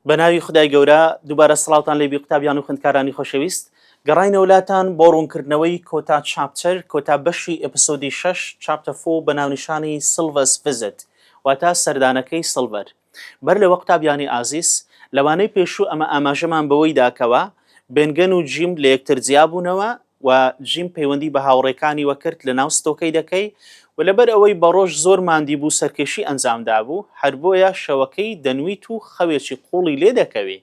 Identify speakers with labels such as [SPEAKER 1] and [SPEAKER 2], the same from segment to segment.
[SPEAKER 1] بە ناوی خدای گەورە دووبارە سڵاوتان لێبی قوتابیان و خوندکارانی خۆشەویست گەڕینەوە لاتان بۆ ڕوونکردنەوەی کۆتا چاپتەر کۆتا بەشی ئەپسۆدی شەش چاپتە فۆ بە ناونیشانی سلڤەس فزت واتا سەردانەکەی سڵڤەر بەر لەوە قوتابیانی ئازیز لەوانەی پێشوو ئەمە ئاماژەمان بەوەی داکەوە بنگەن و جیم لە یەکتر جیابوونەوە و جیم پەیوەندی بە هاوڕێکانیوە کرد لەناو ستۆکەی دەکەی و لەبەر ئەوەی بەڕۆژ زۆر ماندی بوو سەرکێشی ئەنجام دابوو هەر بۆیە شەوەکەی دەنویت و خەوێکی قوڵی لێ دەکەوی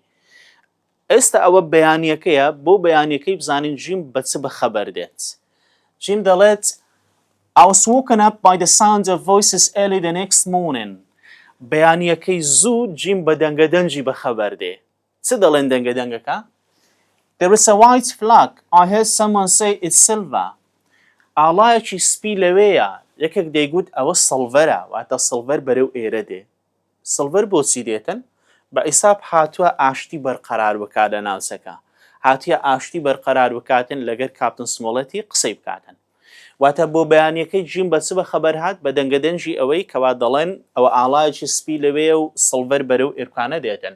[SPEAKER 1] ئێستا ئەوە بەیانیەکەیە بۆ بەیانیەکەی بزانین جیم بە چ بەخەبەر دێت جیم دەڵێت I was woken up by the sound of voices early the next morning بەیانیەکەی زوو جیم بە دەنگە دەنگی بەخەبەر دێ چ دەڵێن دەنگە دەنگەکە؟ There is a white flag. I heard someone say it's silver. ئاڵایەکی سپی لەوێیە. یەکێک دەیگوت ئەوە سڵڤەرە، واتە سڵڤەر بەرەو ئێرە دێ. سڵڤەر بۆچی دێتن؟ بە عیساب هاتووە ئاشتی بەرقەرار بکات لە ناوچەکە. هاتیە ئاشتی بەرقەرار بکاتن لەگەر کاپتن سمۆڵێتی قسەی بکاتن. واتە بۆ بەیانیەکەی جیم بە چ بە خەبەر هات بە دەنگەدەنگی ئەوەی کەوا دەڵێن ئەوە ئاڵایەکی سپی لەوێیە و سڵڤەر بەرەو ئێرکانە دێتن.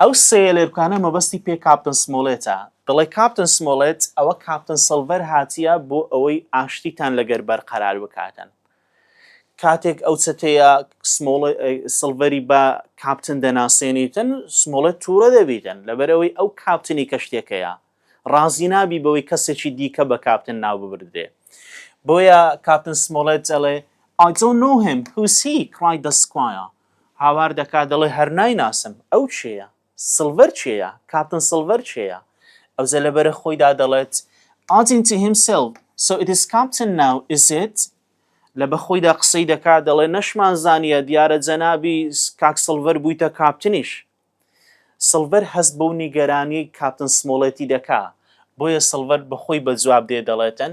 [SPEAKER 1] ئەو سێیەلێرکانە مەبەستی پێ کاپتن سمۆڵێتە دەڵێ کاپتن سمۆڵێت ئەوە کاپتن سڵڤەر هاتیە بۆ ئەوەی ئاشتیتان لەگەر بەرقەرار بکاتن کاتێک ئەو چەتەیە سمۆڵ سڵڤەری بە کاپتن دەناسێنیتن سمۆڵێت تووڕە دەبیتن لەبەرەوەی ئەو کاپتنی کەشتێکەیە ڕازی نابی بەوەی کەسێکی دیکە بە کاپتن ناو ببردرێ بۆیە کاپتن سمۆڵێت دەڵێ I don't know him, who's he? cried the squire. هاوار دەکات دەڵێ هەر نایناسم، ئەو کێیە؟ سڵڤەر کێیە؟ کاپتن سڵڤەر کێیە؟ ئەوجە لە بەرە خۆیدا دەڵێت Adding to himself, so it is captain now, is it? لە بەخۆیدا قسەی دەکات دەڵێ نەشمان زانیە دیارە جەنابی کاک سڵڤەر بوویتە کاپتنیش. سڵڤەر هەست بەو نیگەرانیەی کاپتن سمۆڵێتی دەکا، بۆیە سڵڤەر بەخۆی بەجواب دێ دەڵێتن،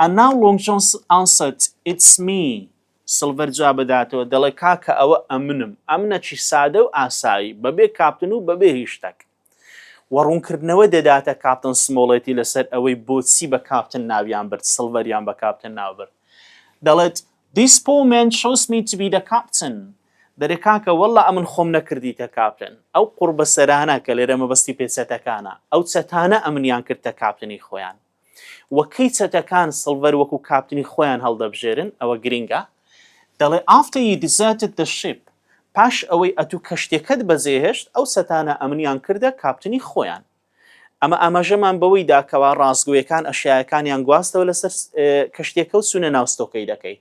[SPEAKER 1] And now Long John answered، It's me، سڵڤەر جواب دەداتەوە دەڵێ، کاکە ئەوە ئەمنم، ئەمنەکی سادە و ئاسایی، بەبێ کاپتن و بەبێ هیچ شتەک. وە ڕوونکردنەوە دەداتە کاپتن سمۆڵێتی لەسەر ئەوەی بۆچی بە کاپتن ناویان برد، سڵڤەریان بە کاپتن ناو برد. دەڵێت، This poor man chose me to be the captain دەرێ کاکە واللە ئەمن خۆم نەکردیتە کاپتن ئەو قوڕبەسەرانە کە لێرە مەبەستی پێ چەتەکانە ئەو چەتانە ئەمنیان کردتە کاپتنی خۆیان وە کەی چەتەکان سڵڤەر وەکو کاپتنی خۆیان هەڵدەبژێرن ئەوە گرینگە دەڵێ after you deserted the ship پاش ئەوەی ئەتوو کەشتیەکەت بەجێهێشت ئەو چەتانە ئەمنیان کردە کاپتنی خۆیان. ئەمە ئاماژەمان بەوەی دا کەوا ڕاستگۆیەکان ئەشیایەکانیان گواستەوە لەسەر کەشتیەکەو چونە ناو ستۆکەیلەکەی.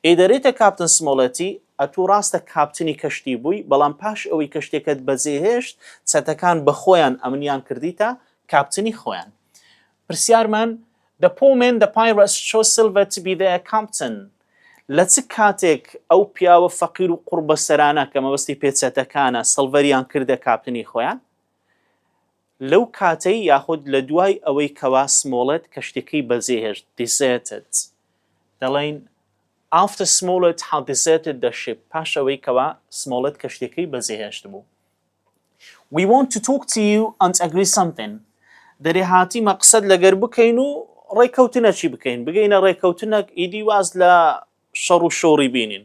[SPEAKER 1] ئیدەریتە کاپتن سمۆڵێتی، ئەتوو ڕاستە کاپتنی کەشتی بووی، بەڵام پاش ئەوەی کەشتیەکەت بەجێ هێشت چەتەکان بەخۆیان ئەمنیان کردیتە کاپتنی خۆیان. پرسیارمان، The poor men the pirates chose Silver to be their captain لە چ کاتێک ئەو پیاوە فەقیرو قوڕبەسەرانە کە مەبەستی پێ چەتەکانە سڵڤەریان کردە کاپتنی خۆیان؟ لەو کاتەی یاخود لە دوای ئەوەی کەوا سمۆڵێت کەشتیەکەی بەجێهێشت، Deserted، دەڵێن After Smollett had deserted the ship پاش ئەوەی کەوا سمۆڵێت کەشتیەکەی بەجێهێشتبوو. We want to talk to you and agree something دەرێ هاتیمە قسەت لەگەر بکەین و ڕێکەوتنەکی بکەین بگەینە ڕێکەوتنەک ئیدی واز لە شەڕ و شۆڕی بینین.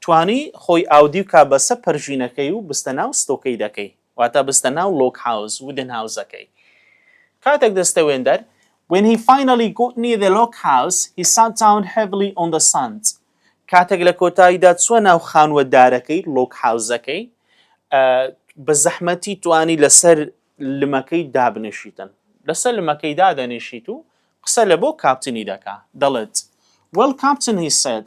[SPEAKER 1] توانی خۆی ئاودیو کا بەسە پەرژینەکەی و بستە ناو ستۆکەی دەکەی واتا بستە ناو لۆک هاوس ودن هاوسەکەی کاتەک دەستە وێندەر When he finally got near the log house, he sat down heavily on the sand. کاتەک لە کۆتاییدا چوە ناو خانوە دارەکەی لۆک هاوسەکەی بە زەحمەتی توانی لەسەر لمەکەی دابنیشیتن لەسەر لمەکەی دادەنیشیت و قسە لە بۆ کاپتنی دەکا دەڵێت Well Captain he said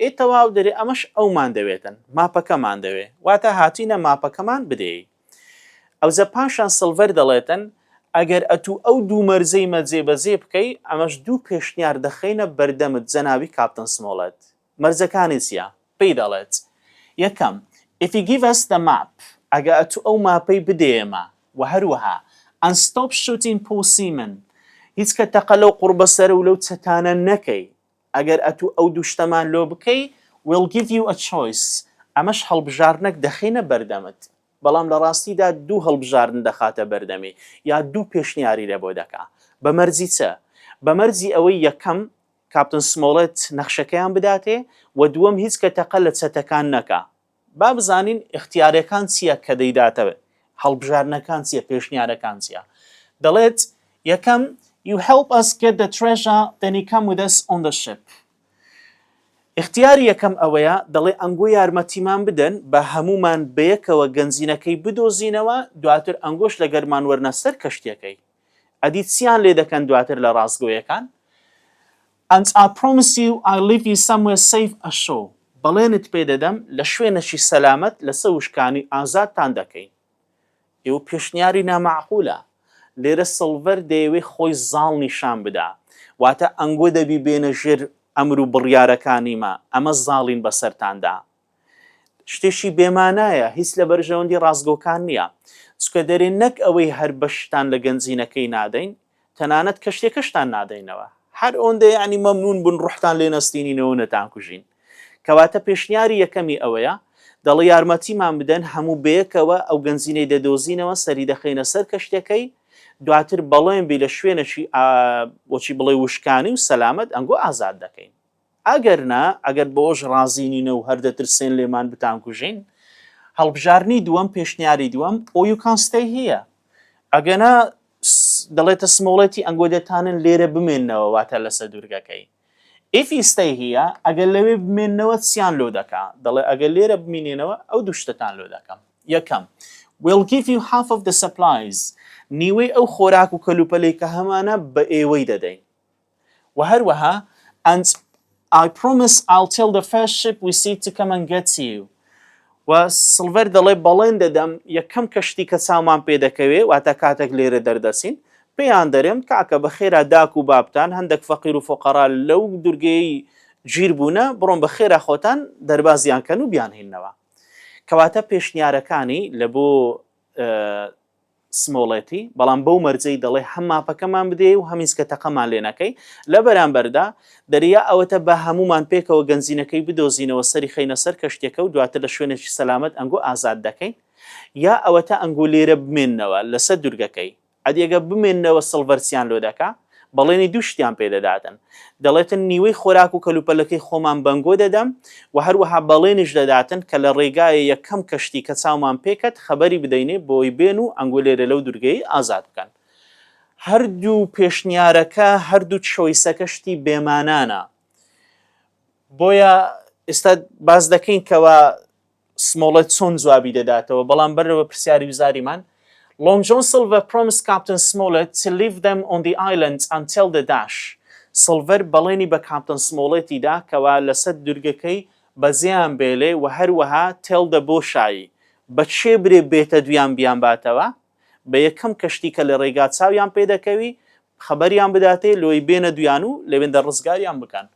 [SPEAKER 1] ئێ تەواو دەرێ ئەمەش ئەومان دەوێتن ماپەکەمان دەوێ واتا هاتینە ماپەکەمان بدێی ئەوجە پاشان سڵڤەر دەڵێتن ئەگەر ئەتوو ئەو دوو مەرجەیمە جێ بەجێ بکەی ئەمەش دوو پێشنیار دەخەینە بەردەمت جەنابی کاپتن سمۆڵێت مەرجەکانی چیە پێی دەڵێت یەکەم If you give us the map ئەگە ئەتوو ئەو ماپەی بدێ ئێمە وە هەروەها And stop shooting Paul Seaman هیچ کە تەقە لەو قوڕبەسەرە و لەو چەتانە نەکەی ئەگەر ئەتوو ئەو دوو شتەمان لۆ بکەی We'll give you a choice ئەمەش هەڵبژاردنەک دەخەینە بەردەمت بەڵام لە ڕاستیدا دوو هەڵبژاردن دەخاتە بەردەمی یا دوو پێشنیاری لە بۆ دەکا بە مەرجی چ؟ بە مەرجی ئەوەی یەکەم کاپتن سمۆڵێت نەخشەکەیان بداتێ و دووەم هیچ کە تەقە لە چەتەکان نەکا با بزانین ئیختیارەکان چییە کە دەیداتە هەڵبژاردنەکان چییە پێشنیارەکان چییە دەڵێت یەکەم You help us get the treasure then you come with us on the ship ئیختیاری یەکەم ئەوەیە دەڵێ ئەنگۆ یارمەتیمان بدەن بە هەمومان بەیەکەوە گەنجینەکەی بدۆزینەوە دواتر ئەنگۆش لە گەرمان وەرنە سەر کەشتیەکەی ئەدی چیان لێ دەکەن دواتر لە ڕاستگۆیەکان And I promise you I'll leave you somewhere safe ashore بەڵێنت پێ دەدەم لە شوێنێکی سەلامەت لەسەر وشکانی ئازادتان دەکەین. ئیو پێشنیاری نامەعقولە. لێرە سڵڤەر دەیەوێ خۆی زاڵ نیشان بدا. واتە ئەنگۆ دەبی بێنە ژێر ئەمر و بڕیارەکانیمە. ئەمە زاڵین بەسەرتاندا. شتێکی بێ مانایە، هیچ لە بەرژەوەندی ڕاستگۆکان نییە. چکە دەرێ نەک ئەوەی هەر بەشتان لە گەنجینەکەی نادەین، تەنانەت کەشتیەکەشتان نادەینەوە. هەر ئۆندە یەعنی مەمنوون بن ڕۆحتان لێ نەستینینەوە و نەتانکوژین. کەواتە پێشنیاری یەکەمی ئەوەیە، دەڵێ یارمەتیمان بدەن هەموو بەیەکەوە ئەو گەنجینەی دەدۆزینەوە سەری دەخەینە سەر کەشتیەکەی، دواتر بەڵێن بی لە شوێنەکی وەکی بڵێ وشکانی و سەلامەت ئەنگۆ ئازاد دەکەین. ئەگەر نا، ئەگەر بەوەش ڕازی نینە و هەر دەترسێن لێمان بتانکوژین، هەڵبژاردنی دووەم، پێشنیاری دووەم، ئۆ یو کان ستەی هیە. ئەگەنا دەڵێتە سمۆڵێتی ئەنگۆ دەتانن لێرە بمێننەوە واتە لەسە دوورگەکەی. ئیف ی ستەی هیە، ئەگەر لەوێ بمێننەوە چیان لۆ دەکا؟ دەڵێ ئەگەر لێرە بمینێنەوە ئەو دوو شتەتان لۆ دەکەم. یەکەم، ویل گیڤ یو هاف ئۆف دە سەپلایز، نیوەی ئەو خۆراک و کەلوپەلەی کە هەمانە بە ئێوەی دەدەین. وە هەروەها and I promise I'll tell the first ship we see to come and get you و سڵڤەر دەڵێ بەڵێن دەدەم یەکەم کەشتی کە چاومان پێ دەکەوێ واتە کاتێک لێرە دەردەچین پێیان دەرێم کاکە بە خێرا داک و بابتان هەندێک فەقیر و فۆقەرا لەو دورگەی گیر بوونە بڕۆن بە خێرا خۆتان دەربازیان کەن و بیانهینەوە کەواتە پێشنیارەکانی لە بۆ سمۆڵێتی، بەڵام بەو مەرجەی دەڵێ هەم ماپەکەمان بدێی و هەم هیچکە تەقەمان لێ نەکەی، لە بەرامبەردا دەریا ئەوەتە با هەموومان پێکەوە گەنجینەکەی بدۆزینەوە سەری خەینە سەر کەشتیەکە و دواتر لە شوێنێکی سەلامەت ئەنگۆ ئازاد دەکەین یا ئەوەتە ئەنگۆ لێرە بمێننەوە لەسەر دورگەکەی ئەدێگە بمێننەوە سڵڤەرچیان لۆ دەکا بەڵێنی دوو شتیان پێ دەداتن، دەڵێتن نیوەی خۆراک و کەلوپەلەکەی خۆمان بەنگۆ دەدەم و هەروەها بەڵێنیش دەداتن کە لە ڕێگایە یەکەم کەشتی کە چاومان پێ کەت خەبەری بدەینێ بۆی بێن و ئەنگۆ لێرە لەو دورگەیەی ئازاد بکەن. هەردوو پێشنیارەکە، هەردوو چۆیسەکە شتی بێ مانانە. بۆیە ئێستا باس دەکەین کەوا سمۆڵێت چۆن جوابی دەداتەوە، بەڵام بەرەوە پرسیاری وزاریمان، Long John Silver promised Captain Smollett to leave them on the island until the dash سڵڤەر بەڵێنی بە کاپتن سمۆڵێتی دا کەوا لەسەر دورگەکەی بەجێیان بێلێ و هەروەها tell the بۆشایی بە کێ برێ بێتە دویان بیانباتەوە بە یەکەم کەشتی کە لە ڕێگا چاویان پێ دەکەوی خەبەریان بداتێ لۆی بێنە دویان و لەوێندە ڕزگاریان بکەن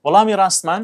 [SPEAKER 1] وەڵامی ڕاستمان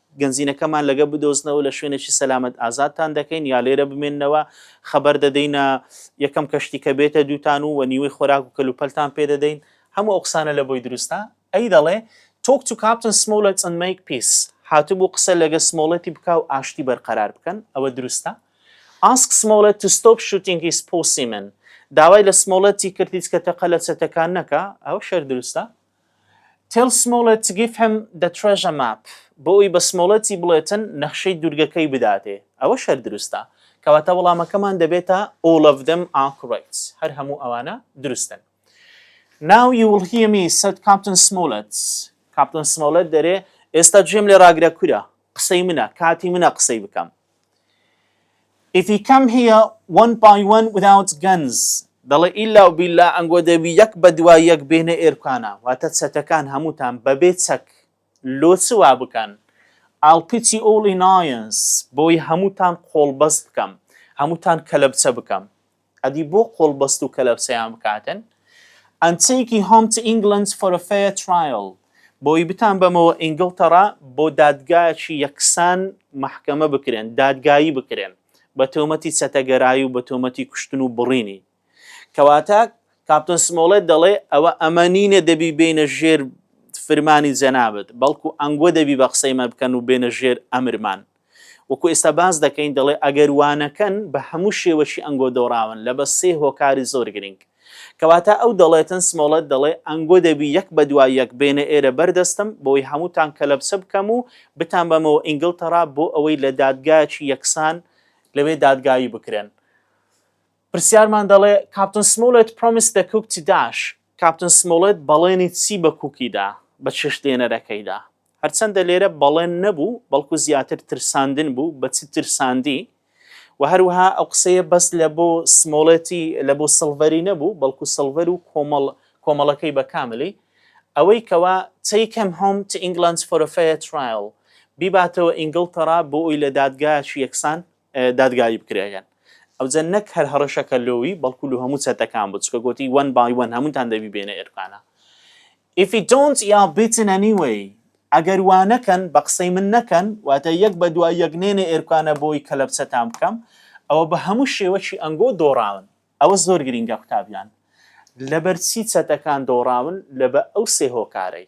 [SPEAKER 1] گەنجینەکەمان لەگە بدۆزنەوە لە شوێنێکی سەلامەت ئازادتان دەکەین یا لێرە بمێننەوە خەبەر دەدەینە یەکەم کەشتی کە بێتە دووتان و وە نیوەی خۆراک و کەلوپەلتان پێدەدەین هەموو ئەو قسانە لە بۆی دروستە ئەی دەڵێ تۆک تو کاپتن سمۆلەت ئەن مەیک پیس هاتبوو قسە لەگە سمۆڵەتی بکا و ئاشتی بەرقەرار بکەن ئەوە دروستە ئاسک سمۆڵەت تو ستۆپ شوتینگ هیس پۆسیمن داوای لە سمۆڵەتی کرد هیچ کە تەقە لە چەتەکان نەکا ئەوە شەر دروستە Tell Smollett to give him the treasure map بۆ ئەوەی بە سمۆڵێتی بڵێتن نەخشەی دوورگەکەی بداتێ، ئەوەش هەر دروستە. کەواتە وەڵامەکەمان دەبێتە All of them are correct هەر هەموو ئەوانە دروستن. Now you will hear me said Captain Smollett کاپتن سمۆڵێت دەرێ، ئێستا گوێم لێ ڕاگرە کورە، قسەی منە، کاتی منە قسەی بکەم. If he come here one by one without guns دەڵێ ئیلا و بیلا ئەنگۆ دەبی یەک بە دوای یەک بێنە ئێرکانە واتە چەتەکان هەمووتان بەبێ چەک لۆ چ وا بکەن I'll put you all in irons بۆی هەمووتان قۆڵبەست بکەم هەمووتان کەلەبچە بکەم ئەدی بۆ قۆڵبەست و کەلەبسەیان بکاتن؟ and taking home to England for a fair trial بۆی بتان بەمەوە ئینگڵتەڕا بۆ دادگایەکی یەکسان مەحکەمە بکرێن دادگایی بکرێن بە تۆمەتی چەتەگەرایی و بە تۆمەتی کوشتن و بڕینی کەواتە کاپتن سمۆڵێت دەڵێ ئەوە ئەمە نینە دەبی بینە ژێر فرمانی جەنابت بەڵکو ئەنگۆ دەبی بە قسەی مە بکەن و بێنە ژێر ئەمرمان وەکو ئێستا باس دەکەین دەڵێ ئەگەر وانەکەن بە هەموو شێوەکی ئەنگۆ دۆڕاون لە بە سێ هۆکاری زۆر گرینگ کەواتە ئەو دەڵێتن سمۆڵێت دەڵێ ئەنگۆ دەبی یەک بە دوای یەک بێنە ئێرە بەر دەستم بۆی هەمووتان کەلەپچە بکەم و بتان بەمەوە ئینگلتەڕا بۆ ئەوەی لە دادگایەکی یەکسان لەوێ دادگایی بکرێن پرسیارمان دەڵێ کاپتن سمۆڵێت پرۆمیس دە کوک چی داش کاپتن سمۆڵێت بەڵێنی چی بە کوکی دا بە چێشت لێنەرەکەیدا هەرچەندە لێرە بەڵێن نەبوو بەڵکو زیاتر ترساندن بوو بە چ ترساندی و هەروەها ئەو قسەیە بەس لە بۆ سمۆڵێتی لە بۆ سڵڤەری نەبوو بەڵکو سڵڤەر و کۆمەڵ کۆمەڵەکەی بە کاملی ئەوەی کەوا take him home to England for a fair trial بیباتەوە ئینگڵتەڕا بۆ ئەوی لە دادگایەکی یەکسان دادگایی بکرێگەن ئەوجە نەک هەر هەڕەشەکە لۆوی بەڵکو لو هەموو چەتەکان بوو چکە گۆتی وەن بای وەن هەمووتان دەبی بێنە ئێرکانە If it don't یا بتن anyway ئەگەر وا نەکەن بە قسەی من نەکەن واتە یەک بە دوای یەک نێنە ئێرکانە بۆی کەلەپچەتان بکەم ئەوە بە هەموو شێوەکی ئەنگۆ دۆڕاون ئەوە زۆر گرینگە قوتابیان لەبەرچی چەتەکان دۆڕاون لەبە ئەو سێ هۆکارەی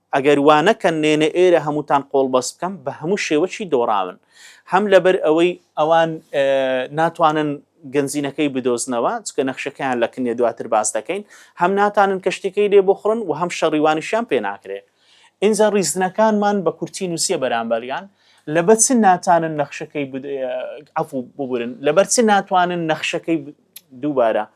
[SPEAKER 1] ئەگەر وانەکەن نێنە ئێرە هەمووتان قۆڵبەست بکەم بە هەموو شێوەکی دۆڕاون هەم لەبەر ئەوەی ئەوان ناتوانن گەنجینەکەی بدۆزنەوە چکە نەخشەکەیان لە کنێ دواتر باس دەکەین هەم ناتانن کەشتەکەی لێ بخڕن و هەم شەڕیوانیشیان پێ ناکرێ ئینجا ڕیزنەکانمان بە کورتی نووسە بەرامبەریان لەبەر چ ناتانن نەخشەکەی عفو ببورن لەبەر چ ناتوانن نەخشەکەی دووبارە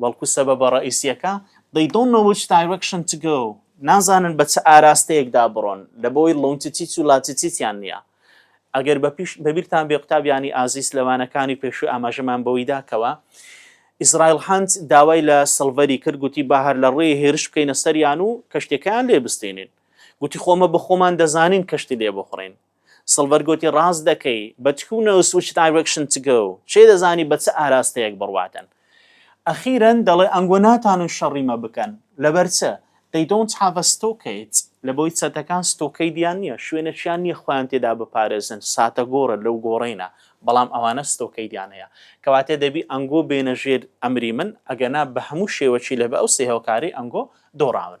[SPEAKER 1] بەڵکو سەبەبە ڕەئیسییەکە They don't know which direction to go نازانن بە چ ئاراستەیەکدا بڕۆن لەبەوەی Longitude و Latitude-یان نییە. ئەگەر بەبیرتان بێ قوتابیانی ئازیز لە وانەکانی پێشوو ئاماژەمان بەوەی دا کەوا ئیسرائیل هەند داوای لە سڵڤەری کرد گوتی با هەر لە ڕێی هێرش بکەینە سەریان و کەشتەکەیان لێ بستێنین گوتی خۆمە بە خۆمان دەزانین کەشتی لێ بخڕین سڵڤەر گۆتی، ڕاست دەکەی، بە تکو و نەوس which direction to go، کێ دەزانی بە چ ئاراستەیەک بڕواتن. ئەخیرەن دەڵێ، ئەنگۆ ناتانن شەڕی مە بکەن. لەبەر چ؟ They don't have a stockade، لەبەوەی چەتەکان ستۆکەیدیان نییە، شوێنێکیان نییە خۆیان تێدا بپارێزن، ساتەگۆڕە، لەو گۆڕەینە، بەڵام ئەوانە ستۆکەیدیان هەیە. کەواتە دەبی ئەنگۆ بێنە ژێر ئەمری من، ئەگەنا بە هەموو شێوەکی لە بە ئەو سێ هۆکارەی ئەنگۆ دۆڕاون.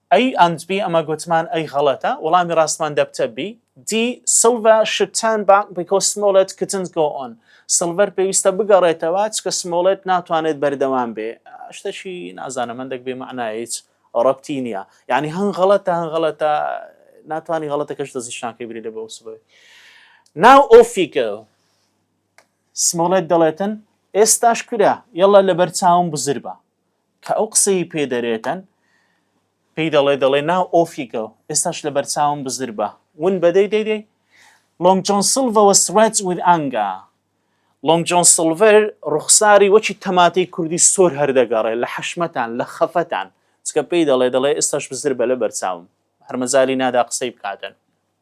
[SPEAKER 1] ئەی ئەند بی ئەمە گوتمان ئەی غەڵەتە وەڵامی ڕاستمان دەبتە بی دی سڵڤە شود تان باک بیکۆز سمۆڵێت کتنت گۆ ئۆن سڵڤەر پێویستە بگەڕێتەوە چکە سمۆڵێت ناتوانێت بەردەوام بێ شتەکی نازانم هەندێک بێ مەعنا هیچ ڕەبتی نییە یعنی هەن غەڵەتە هەن غەڵەتە ناتوانانی غەڵەتەکەش دەزیشتناکەی بری لە بۆ سبەوەی ناو ئۆفیکە سمۆڵێت دەڵێتن ئێستاش کورە یەڵە لەبەر چاوم بزر بە کە ئەو قسەی پێ دەرێتن پێی دەڵێ دەڵێ ناو ئۆفیکە و ئێستاش لە بەرچاوم بزر بە ون بە دەی دەی دەی لۆنگ جۆن سڵڤە وە سڕێت ویز ئانگا لۆنگ جۆن سڵڤەر ڕوخساری وەکی تەماتەی کوردی سۆر هەر دەگەڕێ لە حەشمەتان لە خەفەتان چکە پێی دەڵێ دەڵێ ئێستاش بزر بە لە بەرچاوم هەر مەجالی نادا قسەی بکاتن.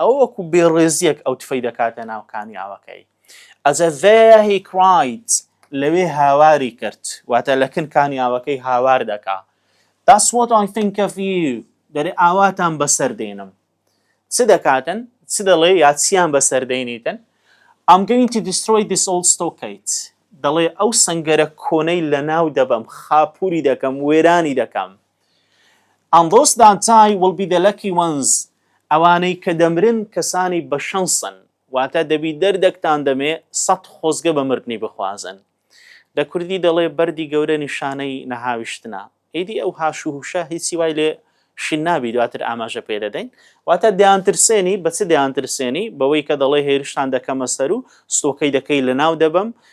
[SPEAKER 1] ئەوە وەکو بێڕێزییەک ئەو تفەی دەکاتە ناو کانیاوەکەی. As a there he cried لەوێ هاواری کرد، واتە لە کن کانیاوەکەی هاوار دەکا. That's what I think of you دەرێ ئاواتان بەسەر دێنم. چ دەکاتن؟ چ دەڵێ یا چیان بەسەر دێنیتن؟ I'm going to destroy this old stockade دەڵێ ئەو سەنگەرە کۆنەی لەناو دەبەم، خاپووری دەکەم، وێرانی دەکەم. ئەندرۆس دانتای ویل بی دە لەکی وەنز ئەوانەی کە دەمرن کەسانی بە شەنسن واتە دەبی دەردەکتان دەمێ سەد خۆزگە بە مردنی بخوازن دە کوردی دەڵێ بەردی گەورە نیشانەی نەهاویشتنە ئیدی ئەو هاش و هوشە هیچی وای لێ شین نابی دواتر ئاماژە پێ دەدەین واتە دەیانترسێنی بە چ دەیانترسێنی بەوەی کە دەڵێ هێرشتان دەکەمە سەر و ستۆکەی دەکەی لە ناو دەبەم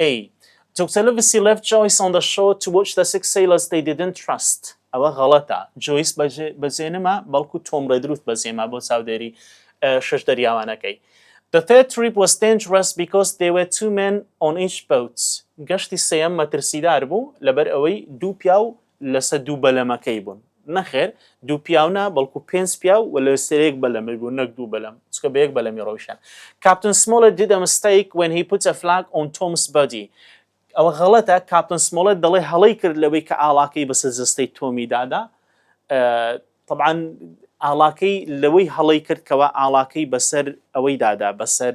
[SPEAKER 1] ئەی جوکسەلە ڤسیلێڤ جۆیس ئۆن دە شۆ تو وۆچ دە سیکس سەیلەرس دەی دیدنت تراست ئەوە غەڵەتە جۆیس بەجێ نما بەڵکو تۆم ڕێدرووت بەجێما بۆ چاودێری شەش دەریاوانەکەی The third trip was dangerous because there were two men on each boat گەشتی سێیەم مەترسیدار بوو لەبەر ئەوەی دوو پیاو لەسە دوو بەلەمەکەی بوون نەخێر دوو پیاو نا بەڵکو پێنج پیاو و لە سەرێک بەلەمی بوو نەک دوو بەلەم چکە بە یەک بەلەمی ڕۆیشتن کاپتن سمۆڵێت did a mistake when he put a flag on Tom's body ئەوە غەڵەتە کاپتن سمۆڵێت دەڵێ هەڵەی کرد لەوەی کە ئاڵاکەی بەسەر جەستەی تۆمی دادا طبعاان ئاڵاکەی لەوەی هەڵی کرد کەەوە ئاڵاکەی بەسەر ئەوەی دادا بەسەر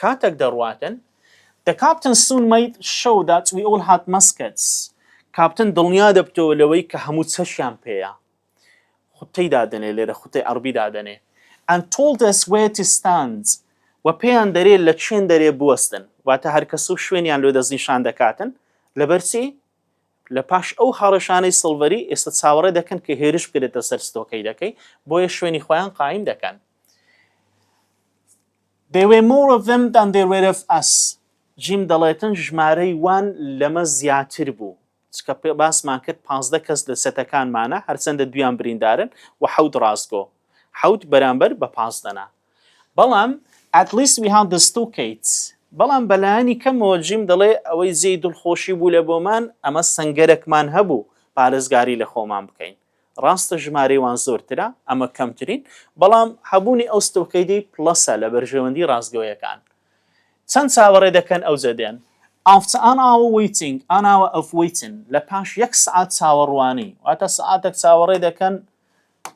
[SPEAKER 1] کاتەک دەڕواتن، دە کاپتن سون مەید شەو دات وی ئول هات مەسکەتس، کاپتن دڵنیا دەبتەوە لەوەی کە هەموو چەشیان پێیە. خوتەی دادەنێ، لێرە خوتەی عەڕبی دادەنێ. ئەند تۆڵد ئەس وێر تۆ ستاند، وە پێیان دەرێ لە چێن دەرێ بوەستن. واتە هەرکەس و شوێنیان لۆ دەستنیشان دەکاتن. لەبەر چی؟ لە پاش ئەو هەڕەشانەی سڵڤەری، ئێستا چاوەڕێ دەکەن کە هێرش بکرێتە سەر ستۆکەیدەکەی، بۆیە شوێنی خۆیان قایم دەکەن. They were more of them than there were of us جیم دەڵێتن ژمارەی وان لەمە زیاتر بوو چکە باسمان کرد پازدە کەس لە سەتەکانمانە هەرچەندە دویان بریندارن و حەوت ڕاستگۆ حەوت بەرامبەر بە پازدەنا بەڵام at least we had the two kites بەڵام بەلایانی کەمەوە جیم دەڵێ ئەوەی جێی دڵخۆشی بوو لە بۆمان ئەمە سەنگەرەکمان هەبوو پارێزگاری لە خۆمان بکەین ڕاستە ژمارەی وان زۆرترە، ئەمە کەمترین، بەڵام هەبوونی ئەو ستۆکەیدی پڵەسە لە بەرژەوەندی ڕاستگۆیەکان. چەند چاوەڕێ دەکەن ئەوجە دێن. ئافت ئان ئاوە وەیتینگ ئان ئاوە ئەف وەیتن، لە پاش یەک سەعات چاوەڕوانی، واتە سەعاتەک چاوەڕێ دەکەن،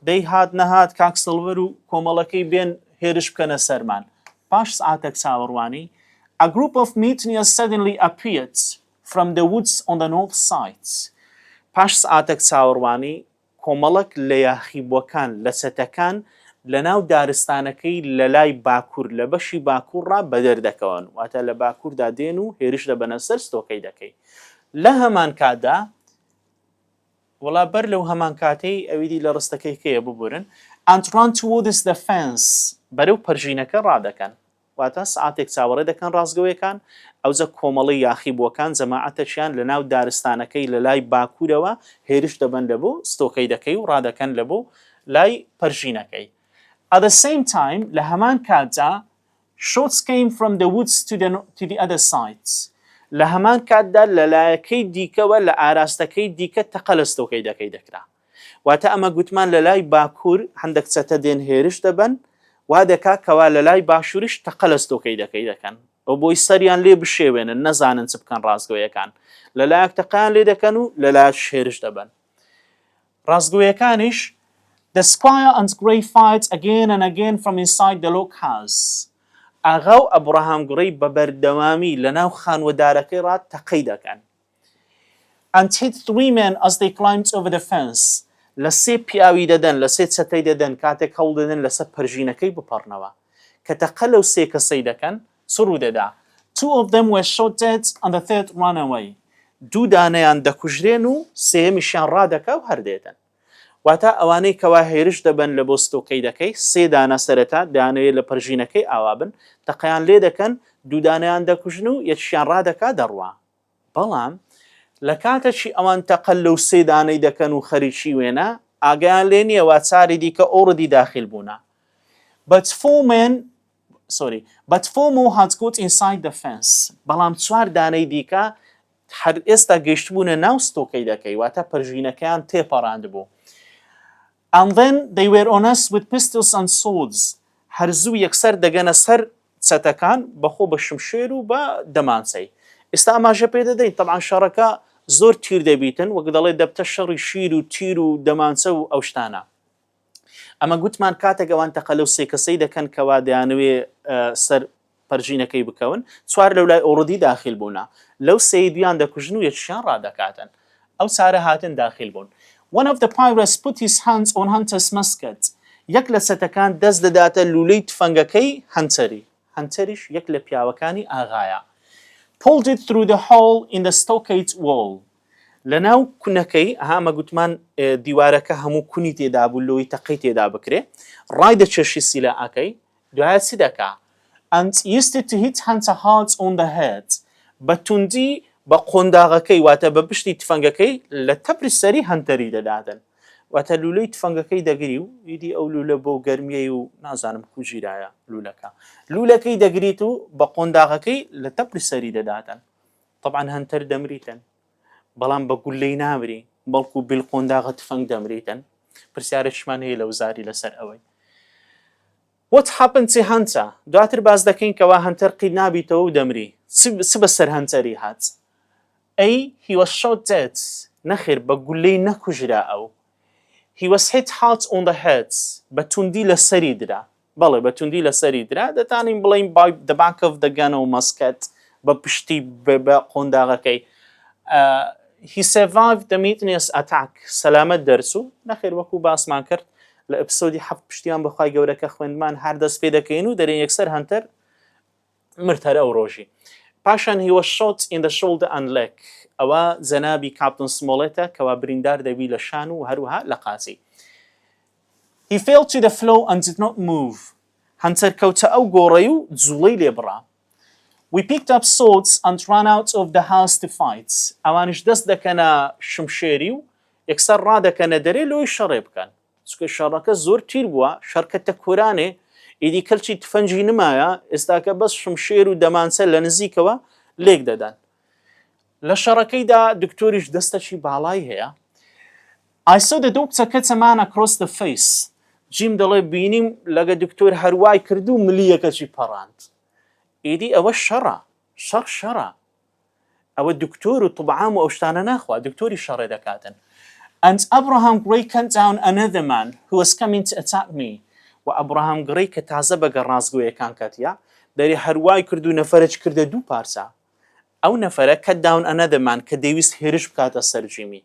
[SPEAKER 1] دەی هات نەهات کاک سڵڤەر و کۆمەڵەکەی بێن هێرش بکەنە سەرمان. پاش سەعاتەک چاوەڕوانی، A group of mutineers suddenly appeared From the woods on the north side پاش سەعاتەک چاوەڕوانی، کۆمەڵەک لە یاخیبووەکان لە چەتەکان لەناو دارستانەکەی لەلای باکوور لە بەشی باکوورڕا بەدەر دەکەون، واتە لە باکووردا دێن و هێرش دەبەنە سەر ستۆکەی دەکەی. لە هەمان کاتدا، وەڵا بەر لەو هەمان کاتەی ئەوی دی لە ڕستەکەی کەیە ببورن، and run towards the fence بەرەو پەرژینەکە ڕادەکەن. واتە سەعاتێک چاوەڕێ دەکەن ڕاستگۆیەکان، ئەوجە کۆمەڵەی یاخیبووەکان جەماعەتەکیان لە ناو دارستانەکەی لە لای باکوورەوە هێرش دەبەن لە بۆ ستۆکەیدەکەی و ڕادەکەن لە بۆ لای پەرژینەکەی At the same time لە هەمان کاتدا Shots came from the woods to the to the other sides لە هەمان کاتدا لە لایەکەی دیکەوە لە ئاراستەکەی دیکە تەقە لە ستۆکەیدەکەی دەکرا. واتە ئەمە گوتمان لە لای باکوور هەندەک چەتە دێن هێرش دەبەن وا دەکا کەوا لە لای باشووریش تەقە لە ستۆکەی دەکەی دەکەن و بۆی سەریان لێ بشێوێنن نەزانن چ بکەن ڕاستگۆیەکان لە لایەک تەقیان لێ دەکەن و لە لایەک شێرش دەبن ڕاستگۆیەکانیش The squire and grey fight again and again from inside the log house. ئاغا و ئەبڕەهام گڕی بە بەردەوامی لە ناو خانوەدارەکەی ڕات تەقەی دەکەن. and hit three men as they climbed over the fence لە سێ پیاوی دەدەن لە سێ چەتەی دەدەن کاتێک هەوڵ دەدەن لەسەر پەرژینەکەی بپەڕنەوە کە تەقە لەو سێ کەسەی دەکەن چ ڕوودەدا two of them were shot dead and the third ran away دوو دانەیان دەکوژرێن و سێیەمیشیان ڕادەکا و هەردێتن واتا ئەوانەی کەوا هێرش دەبن لە بۆ ستۆکەی دەکەی سێ دانە سەرەتا دانەیە لە پەرژینەکەی ئاوا بن تەقەیان لێ دەکەن دوودانیان دەکوژن و یەکشیان ڕادەکا دەڕوا بەڵام لە کاتەکی ئەوان تەقە لەو سێ دانەی دەکەن و خەریکی وێنە ئاگایان لێ نییە وا چاری دیکە ئۆڕدی داخیل بوونە بە تفۆمێن سۆری بە تفۆم و هاتگوت ئینساید دە فێنس بەڵام چوار دانەی دیکە هەر ئێستا گەیشتبوونە ناو ستۆکەی دەکەی واتە پەرژینەکەیان تێپەڕاند بوو And then they were on us with pistols and swords هەرزوو یەکسەر دەگەنە سەر چەتەکان بەخۆ بە شمشێر و بە دەمانچەی ئێستا ئاماژە پێ دەدەین تەبعەن شەڕەکە زۆر تیر دەبیتن وەک دەڵێ دەبتە شەڕی شیر و تیر و دەمانچە و ئەو شتانە ئەمە گوتمان کاتێک ئەوان تەقە لەو سێ کەسەی دەکەن کەوا دەیانەوێ سەر پەرژینەکەی بکەون، چوار لەولای ئۆڕدی داخیل بوونە، لەو سێی دوویان دەکوژن و یەکیشیان ڕادەکاتن. ئەو چارە هاتن داخیل بوون. One of the pirates put his hands on Hunter's musket یەک لە چەتەکان دەست دەداتە لوولەی تفەنگەکەی هەنتەری، هەنتەریش یەک لە پیاوەکانی ئاغایە. Pulled it through the hole in the stockade wall لەناو کونەکەی، ئەها ئەمە گوتمان دیوارەکە هەموو کونی تێدابوو لۆی تەقەی تێدا بکرێ، ڕایدەکێشی سیلاکەی، دوایە چ دەکا؟ ئەنت یست تهیت هنت هالز اون دە هێت، بە توندی بە قۆنداغەکەی واتە بە پشتی تفەنگەکەی لە تەپری سەری هەنتەری دەداتن. واتە لولەی تفەنگەکەی دەگری و ئیدی ئەو لولە بۆ گەرمیەی و نازانم کوو گیرایە لولەکە. لولەکەی دەگریت و بە قۆنداغەکەی لە تەپری سەری دەداتن. تەبعەن هەنتەر دەمریتن. بەڵام بە گوللەی نامری بەڵکو بل قۆنداغە تفەنگ دەمریتن پرسیارێکشمان هەیە لە وزاری لەسەر ئەوەی What happened to Hunter؟ دواتر باس دەکەین کەوا هەنتەر قیل نابیتەوە و دەمری چ بەسەر هەنتەری هات ئەی he was shot dead نەخێر بە گولەی نەکوژرا ئەو he was hit hard on the head بە توندی لەسەری درا بەڵێ بە توندی لەسەری درا، دەتانین بڵێین بای دە بانک ئۆف دە گەن ئۆو مەسکەت بە پشتی بە قۆنداغەکەی هی سێڤایڤ دە میتنێس ئەتاک سەلامەت دەرچوو، نەخێر وەکو باسمان کرد لە ئەپسۆدی حەفت پشتیان بەخوای گەورە کە خوێندمان هەر دەست پێ دەکەین و دەرێن یەکسەر هەنتەر مرد هەر ئەو ڕۆژی. پاشان هی وەز شۆت ئین دە شۆڵدە ئەند لێک، ئەوە جەنابی کاپتن سمۆڵێتە کەوا بریندار دەبی لە شان و هەروەها لە قاچی. هی فێڵ تو دە فلۆو ئەند دید نۆت مووڤ، هەنتەر کەوتە ئەو گۆڕەی و جوڵەی لێ بڕا. وی پیکد ئەپ سۆدس ئەند ڕان ئاوت ئۆف دە هاوس تو فایت، ئەوانیش دەست دەکەنە شمشێری و یەکسەر ڕادەکەنە دەرێ لۆی شەڕێ بکەن. چونکە شەڕەکە زۆر تیر بووە شەرکەتە کورانێ ئیدی کەلچی تفەنجی نمایە ئێستاکە بەس شمشێر و دەمانچە لە نزیکەوە لێک دەدان لە شەڕەکەیدا دکتۆریش دەستەکی باڵای هەیە ئایسۆ دە دۆک چەکە چەمانە کرۆس دە فەیس جیم دەڵێ بینیم لەگە دکتۆر هەروای کرد و ملیەکەکی پەڕاند ئیدی ئەوە شەڕە شەڕ شەڕە ئەوە دکتۆر و طب عام و ئەو شتانە ناخوا دکتۆری شەڕێ دەکاتن and Abraham Gray cut down another man who was coming to attack me و ئەبراهام گڕەی کە تازە بەگە ڕاستگۆیەکان کەتیە دەری هەروای کرد و نەفەرەج کردە دوو پارچە ئەو نەفەرە کە داون ئەنەدەمان کە دەیویست هێرش بکاتە سەر جیمی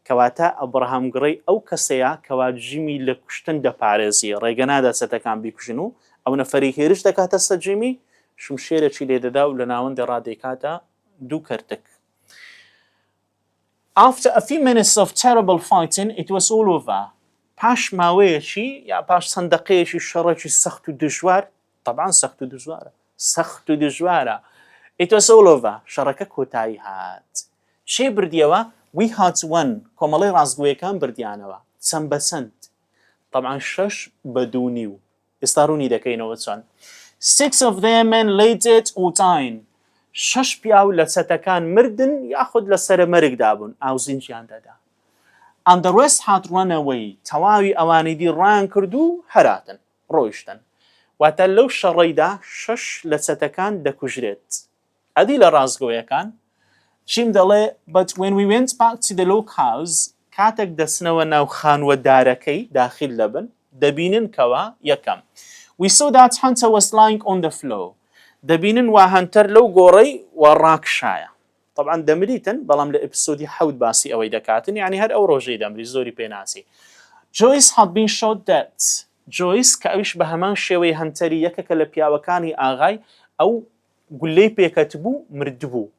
[SPEAKER 1] کەواتە ئەبڕەهام گڕەی ئەو کەسەیە کەوا جیمی لە کوشتن دەپارێزی، ڕێگە نادات چەتەکان بیکوژن و ئەو نەفەرەی هێرش دەکاتە سەر جیمی شمشێرەکی لێ دەدا و لە ناوەندێ ڕا دەیکاتە دوو کەرتک. After a few minutes of terrible fighting it was all over پاش ماوەیەکی یا پاش چەند دەقەیەکی شەڕێکی سەخت و دژوار، تەبعەن سەخت و دژوارە سەخت و دژوارە ئیتۆ سەوڵۆڤە شەڕەکە کۆتایی هات شێ بردیەوە وی هاتووەن کۆمەڵی ڕاستگویەکان بردیانەوە چەند بە چەند طبعا شەش بە دوو نیو ئێستا ڕوونی دەکەینەوە چۆن six of them and lated اوتاین شەش پیاو لە چەتەکان مردن یاخود لە سرە مەرگدا بوون ئاوزینجیان دەدا ئەندەڕێست هات ڕەنەوەی تەواوی ئەوانی دی ڕان کردو هەراتن ڕۆیشتن واتە لەو شەڕەیدا شەش لە چەتەکان دەکوژرێت ئەدی لە ڕاستگۆیەکان جیم دەڵێ but when we went back to the log house کاتێک دەچنەوە ناو خانووە دارەکەی داخیل دەبن دەبینن کەوا یەکەم we saw that hunter was lying on the floor دەبینن وا هەنتەر لەو گۆڕەی و ڕاکشایە تەبعەن دەمریتن بەڵام لە ئیپسۆدی حەوت باسی ئەوەی دەکاتن یانی هەر ئەو ڕۆژەی دەمری زۆری پێ ناچی جۆیس هاد بین شۆت دەت جۆیس کە ئەویش بە هەمان شێوەی هەنتەری یەکەکە لە پیاوەکانی ئاغای ئەو گولەی پێکەتبوو مردبوو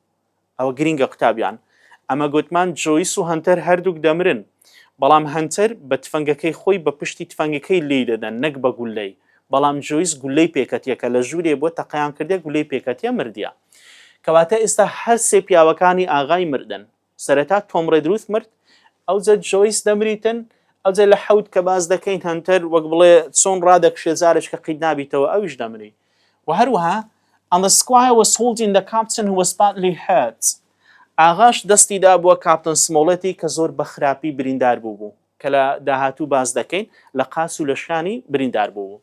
[SPEAKER 1] ئەوە گرینگە قوتابیان ئەمە گوتمان جۆیس و هەنتەر هەردووک دەمرن بەڵام هەنتەر بە تفەنگەکەی خۆی بە پشتی تفەنگەکەی لی دەدەن نەک بە گولەی بەڵام جۆیس گولەی پێکەتیە کە لە ژورێ بوە تەقەیان کردیە گولەی پێکەتیە مردیە کەواتە ئێستا هەر سێ پیاوەکانی ئاغای مردن سەرەتا تۆم ڕێدروث مرد ئەوجە جۆیس دەمریتن ئەوجە لە حەوت کە باس دەکەین هەنتەر وەک بڵێ چۆن ڕادەکشێ جارێک کە قیت نابیتەوە ئەویش دەمری و هەروەها And the squire was holding the captain who was badly hurt. ئاغاش دەستی دابووە کاپتن سمۆڵێتی کە زۆر بە خراپی بریندار بوو بوو. کە لە داهاتوو باس دەکەین لە قاچ و لە شانی بریندار بوو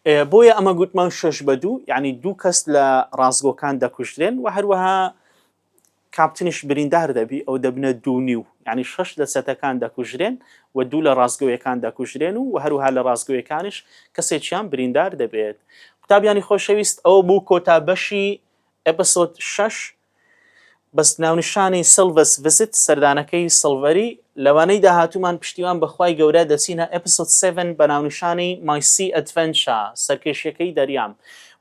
[SPEAKER 1] بۆیە ئەمە گوتمان شەش بە دوو یعنی دوو کەس لە ڕاستگۆکان دەکوژرێن و هەروەها کاپتنیش بریندار دەبی ئەو دەبنە دوونی و ینی شش لە چەتەکان دەکوژرێن و دوو لە ڕاستگەوەکان دەکوژرێن و هەروها لە ڕاستگەوەکانش کەسێکیان بریندار دەبێت قوتابیانی خۆشەویست ئەو بوو کۆتا بەشی ئەپسۆد شش بەس ناونیشانی سلڤەس ڤیسیت سەردانەکەی سڵڤەری لەوانەی داهاتوومان پشتیوان بەخوای گەورە دەچینە ئێپسۆد سێڤن بە ناونیشانی مای سی ئەدڤێنچا سەرکێشیەکەی دەریام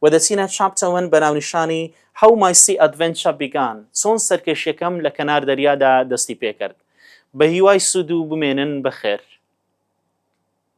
[SPEAKER 1] وە دەچینە چاپتە وەن بە ناونیشانی هەو مای سی ئەدڤێنچا بیگان چۆن سەرکێشیەکەم لە کەنار دەریادا دەستی پێکرد بەهیوای سوودو بمێنن بەخێر.